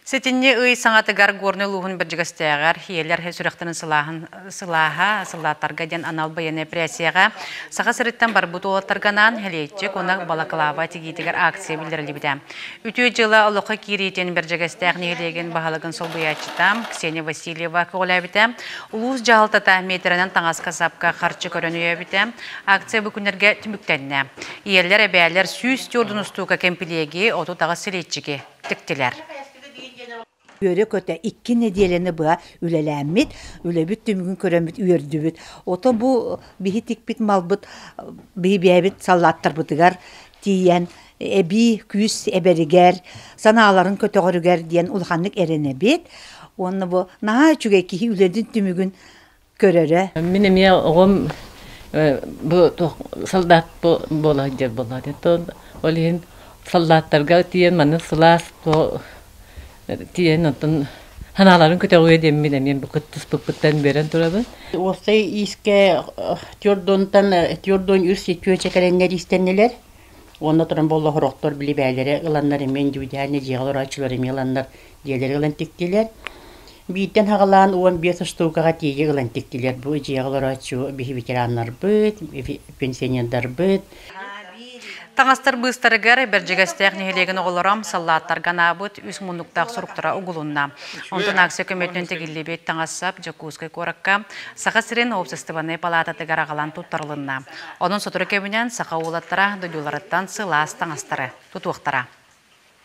Сэтинньи ый саҥатыгар Горнай улууһун Бэрдьигэстээҕэр ийэлэр сүрэхтэрин сылааһын сылааһа, сылааттарга диэн анал байыаннай эпэрээссийэҕэ Саха сириттэн барбыт уолаттарга анаан Сэлиэччик уонна балаклава тигиитигэр акция биллэриллибитэ. Үтүө дьыла олоххо киириитин Бэрдьигэстээх нэһилиэгин баһылыгын солбуйааччыта Ксения Васильева көҕүлээбитэ. Улуус дьаһалтата миэтэрэнэн таҥаска-сапка харчы көрөн өйөөбүтэ. Акция бу күннэргэ түмүктэннэ. Ийэлэр, эбээлэр сүүс түөрт устуука кэмпилиэги, отут аҕыс сэлиэччики тиктилэр үөрэ-көтө икки нэдиэлэни быһа үлэлээммит, үлэбит түмүгүн көрөммүт, үөрдүбүт. Ото бу биһи тикпит малбыт биһи бэйэбит саллааттарбытыгар тиийэн эбии күүс эбэригэр, санааларын көтөҕөрүгэр диэн улаханнык эрэнэбит. Уонна бу наһаа үчүгэй киһи үлэтин түмүгүн көрөрө. Мин эмиэ оҕом бу солдат буола сылдьар буолла ол иһин солдаттарга тиийэн маны сылаас тиийэн оттон санааларын көтөҕүө диэммин эмиэ бу кыттыспыппыттан биэрэн турабын. Уопсай иискэ твердонтан твердон үс күөчэ кэлэннэр иистэннилэр. Уонна туран буолла оһорохтор били бээлэрэ ыланнар эмиэ индивидуальнай дьиэҕэ олорооччулар эмиэ ыланнар дьиэлэри ылан тиктилэр. Бииртэн хаҕалаан уон биэс штукаҕа тиийэ ылан тиктилэр. Бу дьиэҕэ олорооччу биһи ветераннарбыт, пенсионердарбыт. Таҥастар быыстарыгар Бэрдьигэстээх нэһилиэгин оҕолоро саллааттарга анаабыт үс муннуктаах суруктара угулунна. Онтон акция көмөтүнэн тигиллибит таҥас-сап Дьокуускай куоракка Саха сирин уопсастыбаннай палаататыгар аҕалан туттарылынна. Онон сотору кэминэн саха уолаттара дойдуларыттан сылаас таҥастары тутуохтара.